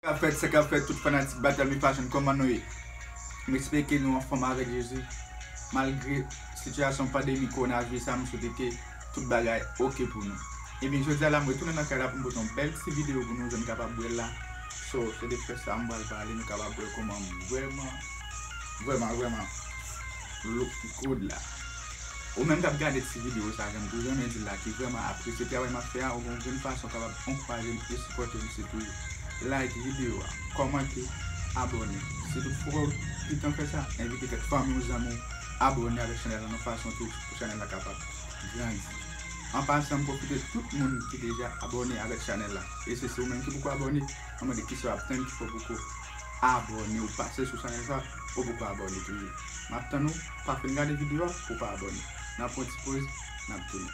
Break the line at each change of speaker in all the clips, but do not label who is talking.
Sakap fèt sakap fèt tout fanatik Batalmi fashion kòman nou ye m espere ke nou anfòm avèk Jezi malgre sitiyasyon pandemi kowonaviris la m swete ke tout bagay ok pou nou ebyen jodia la m retounen nan kay la pou m pote yon bèl ti video pou nou jan nou kapab wèl la so se de fè sa m pral pale nou kapab wè kòman m vrèman vrèman vrèman look good la. Ou menm kap gade ti video sa janm tou renmen dil la ki vrèman apresye travay map fè a ou gon grenn fason kapab ankourajem e sipòtem se pou like video a kòmante abòne si tou ou poko kitan fè sa envite kèk fanmiw zanmiw abòne avèk chanèl lan yon fason tou pou chanèl la kapab grandi an pasan m pwofite tout moun ki deja abòne avèk chanèl la e se se ou menm ki poko abòne map mande kisa wap tann ki fè ou poko abòne ou pase sou chanèl sa ou poko abòne toujou map tann ou. pa fin gade video a pou pa abone
nan pwan ti poz nap tounen.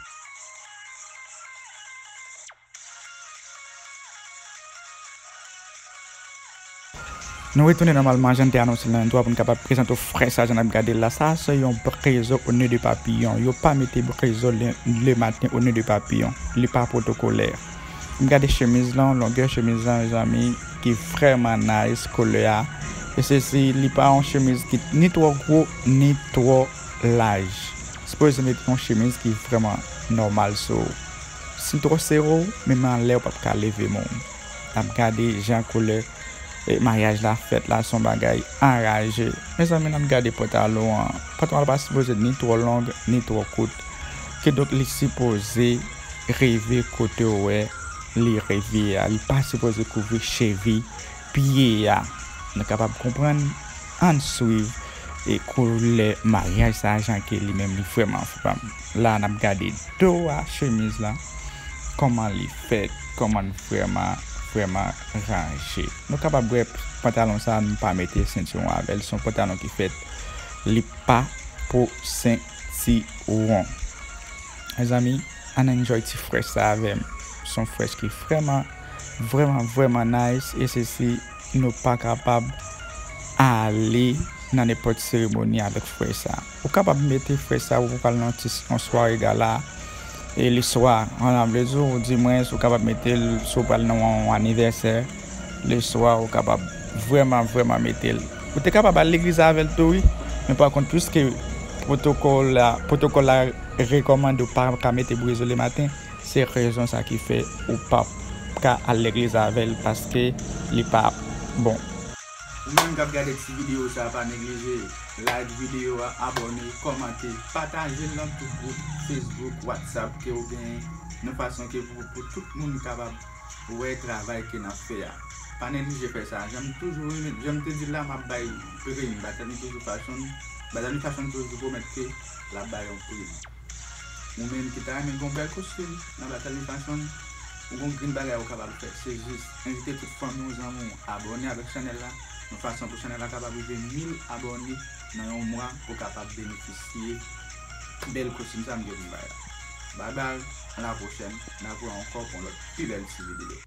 Nou retounen nan malman jan n te anonse l nan entwo a pou n kapab prezante w fre sa jan n ap gade l la. Sa a se yon brezo o ne de papiyon. Yo pa mete brezo le maten o ne de papiyon. Li pa pwotokolè. Gade chemiz lan, longè chemiz lan mezanmi ki vrèman nice kolè a e se si li pa yon chemiz ki ni twò gwo ni twò laj sipoze met yon chemiz ki vrèman nòmal sou ou si l twò sere w menm anlè ou pap ka leve men w ap gade jan kolè maryaj la fèt la son bagay anraje mezanmi nap gade pantalon an pantalon an pa sipoze ni twò long ni twò kout kidonk li sipoze. Reve kotew wè li reve a li pa sipoze kouvri chevi pye a nou kapab konprann ann swiv e koulè maryaj sa jan ke li menm li vrèman fanm la nap gade do a chemiz lan kòman li fèt kòmann vrèman vrèman ranje nou kapab wè pantalon sa nou pa mete sentiwon avèl son pantalon ki fèt li pa pou sentiwon. Mezanmi ann enjoy ti fresh sa avèm son fresh ki vrèman vrèman vrèman nice e sesi nou pa kapab ale nan nenpòt seremoni avèk fresh sa ou kapab mete fresh sa ou pral nan ti yon sware gala e le swa an vle di ou di mwens ou kapab metel si ou pral nan yon anivèsè. Le swa ou kapab vreman vreman metel. Ou te kapab al legliz avel tou wi men pa kont pwiske pwotokol la rekomande ou pa ka mete brezo le maten se rezon sa ki fe ou pap ka al legliz avel paske li pa bon. Ou menm
kap gade ti video sa pa neglije like video a abone komante patajel nan tout group Facebook WhatsApp ke ou genyen nan fason ke pou tout moun kapab Ou wè travay ke nap fè a. Pa neglije fè sa. Jan m toujou renmen, jan m te di l la, map bay prime. Batami toujou fashion, Batami fashion toujou pwomèt ke lap bay yon prime. Ou menm ki ta renmen gen yon bèl kostim nan Batami fashion, ou gen yon grenn bagay ou kapab fè. Se jis envite tout fanmi w, zanmi w abòne avèk chanèl la, yon fason pou chanèl la kapab rive 1000 abòne nan yon mwa pou kapab benefisye. Bel kostim sa m te vin bay la. Bye bye, a la prochèn, n a pran ankò pou yon lòt pi bèl ti video.